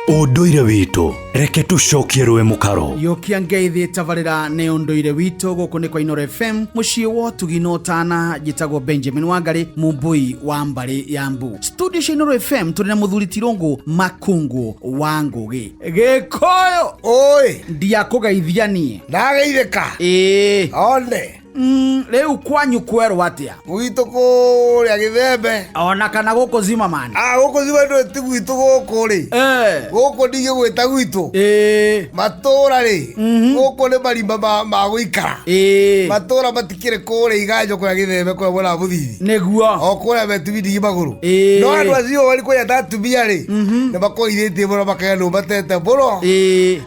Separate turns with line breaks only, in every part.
ũndũire witũ reke tũcokie rũĩ mũkaro yũkia ngeithi
tabarĩra nĩ ũndũire witũ gũkũ nĩ kwa inoro fm mũciĩ wa ũtugi na ũtana njĩtagwo benjamin wangarĩ mũmbũi wa mbarĩ ya mbu studio cia inoro fm tũrĩ na mũthuri tirũngũ makungũ wa ngũgĩ gĩkũyũ oi
ndiakũgeithia
niĩ ndageithĩka
ĩĩ one Mm, rĩu
kwanyu kwerwo atĩa gwitũ kũrĩa
gĩthembe ona kana gũkũ
zimamani ah, gũkũ zimamani ti
gwitũ gũkũ rĩ eh. gũkũ ndigĩ gwĩta gwitũ eh. matũra rĩ mhm. gũkũ nĩ marimba ma gũikara eh. matũra matikĩrĩ kũrĩa iganjo kũrĩa gĩthembe kũrĩa mwena wa mũthithi nĩguo o kũrĩa
metumi
ndigi magũrũ no andũ acio wari kũrĩa tatumia rĩ mhm. nĩ makoithĩtie mũno makaganwo matete mũno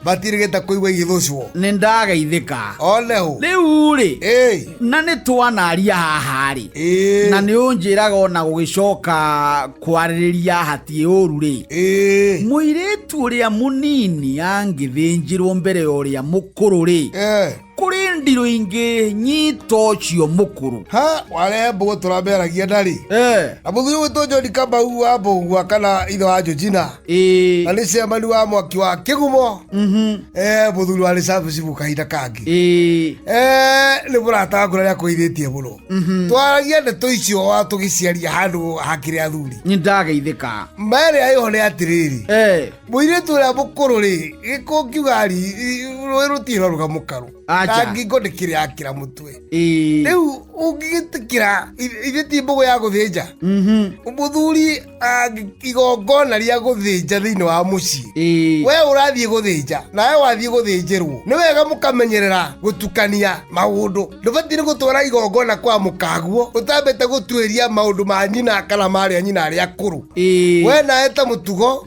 matirigĩte kũigua igĩthũcwo nĩ ndageithĩka
one hũ
rĩu-rĩ Ĩĩ,
na nĩ twanaria haha-rĩ ĩĩ, na nĩ ũnjĩraga ona gũgĩcoka kwarĩrĩria hatiĩ ũru-rĩ ĩĩ, mũirĩtu ũrĩa mũnini angĩthĩnjĩrwo mbere ya ũrĩa mũkũrũ-rĩ ĩĩ. kũrĩ ndirũ ingĩ nyito cio mũkũrũ ha wale mbogo
tũrameragia ndarĩ eh. na mũthuri witũ njoni kambau wa mbũgua kana ithe wa njojina eh. na nĩ cemani wa mwaki wa kĩgumo mm -hmm. eh, mũthuri wa rĩcabu cibu kahinda kangĩ eh. eh, nĩ mũrata waku rarĩa kũithĩtie mũno mm -hmm. twaragia ndeto icio wa tũgĩciaria handũ hakĩrĩ athuri nĩ ndageithĩka
merĩ aĩho nĩ
atĩrĩrĩ eh. Mũirĩtu ũrĩa mũkũrũ rĩ, gĩko ngiuga ri, rũĩ rũtirĩ rũga mũkaru. Acha. Na ngingo ndĩkĩrĩ yakĩra mũtwe. Ĩĩ. Rĩu ũngĩgĩtĩkĩra i- ithe ti mbũgũ ya gũthĩnja. Mhm. Mũthuri angĩ- igongona rĩa gũthĩnja thĩinĩ wa mũciĩ. Ĩĩ. We ũrathiĩ gũthĩnja na we wathiĩ gũthĩnjĩrwo nĩ wega mũkamenyerera gũtukania maũndũ ndũbatiĩ nĩ gũtwara igongona kwa mũkaguo ũtambĩte gũtuĩria maũndũ ma nyina kana marĩa nyina arĩa akũrũ Ĩĩ. we nawe ta mũtugo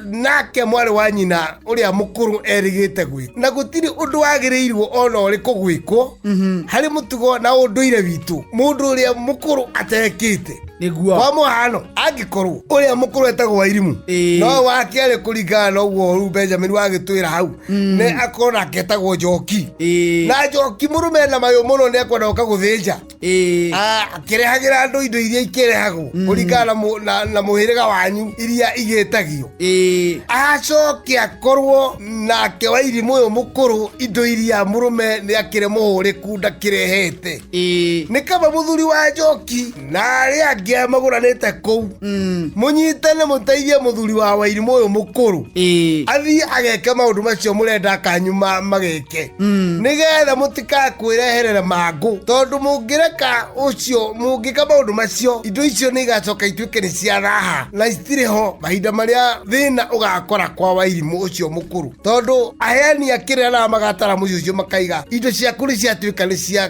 nake mwarĩ wa nyina ũrĩa mũkũrũ erĩgĩte gwĩ na gũtirĩ ũndũ wagĩrĩirwo ona ũrĩkũ gwĩkwo mhm. harĩ mũtugo na ũndũire witũ mũndũ ũrĩa mũkũrũ atekĩte nĩguo kwa
mũhano
angĩkorwo ũrĩa mũkũrũ etagwo wairimũ no wake arĩ kũringana na ũguo rĩu benjamin wagĩtwĩra hau mm. nĩ akorwo nake etagwo njoki na njoki mũrũme na mayũ mũno nĩ ekwenda gũka gũthĩnja akĩrehagĩra andũ indo iria ikĩrehagwo mm. kũringana na mũhĩrĩga wanyu iria igĩtagio acoke akorwo nake wa irimũ ũyũ mũkũrũ indo iria mũrũme nĩ akĩrĩ mũhũrĩku ndakĩrehete nĩ kaba mũthuri wa njoki na arĩa angĩ arĩa magũranĩte kũu mm. mũnyitane mũteithie mũthuri wa wairimũ ũyũ mũkũrũ athiĩ ageke maũndũ macio mũrenda kanyu magĩke wake mm. nigetha mũtikakwĩreherera mangũ tondũ mũngĩreka ũcio mũngĩka maũndũ macio indo icio nĩ igacoka ituĩke nĩ cia raha na citirĩ ho mahinda marĩa thĩna ũgakora kwa wairimũ ũcio mũkũrũ tondũ aheani a kĩrĩa na magatara mũciĩ ũcio makaiga indo ciaku nĩ ciatuĩka nĩ cia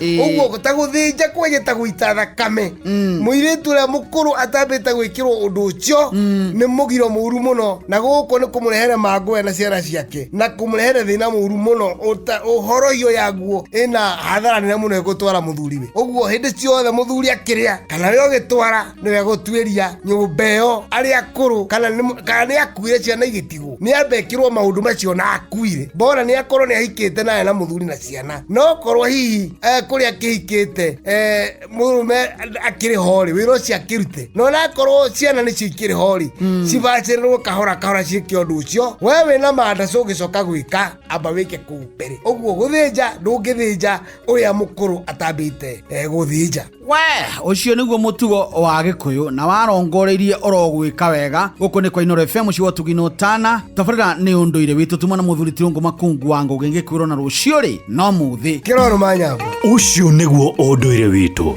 Ĩĩ. ũguo ta gũthĩnja kwenye ta gũita thakame Mm. mũirĩtu ũrĩa mũkũrũ atambĩte gwĩkĩrwo ũndũ ũcio nĩ mũgiro mũru mũno na gũkũ nĩ kũmũrehere mangũya na ciana ciake na kũmũrehere thĩna mũru mũno Ũta- ũhoroio yaguo ĩna hathara nene mũno ĩgũtwara mũthuriwe ũguo hĩndĩ ciothe mũthuri akĩrĩa kana we ũgĩtwara nĩwe gũtuĩria nyũmba ĩyo arĩa akũrũ kana nĩ- kana nĩ akuire ciana igĩtigwo nĩ ambekirwo maũndũ macio na akuire mbona nĩ akorwo nĩ ahikĩte naye na mũthuri na ciana no korwo hihi eh, kũrĩa akĩhikĩte eh, mũrũme akĩrĩ horĩ wĩra ũcio akĩrute no nakorwo ciana nĩcio ikĩrĩ horĩ cibacĩrĩrwo kahora kahora ciĩke ũndũ ũcio we wĩ na manda cũgĩcoka gwĩka amba wĩke kũu mbere ũguo gũthĩnja ndũngĩthĩnja ũrĩa mũkũrũ atambĩte eh, gũthĩnja we
ucio niguo mutugo wa gikuyu na warongoreirie urogwika wega guku ni kwa inoro fm ciwo tugino tana tabarira ni unduire witu tuma na muthuri tirungu makungu wa ngugi ngikwirwo na rucio ri
no
muthi
kiroro
manyambo
ucio niguo unduire
witu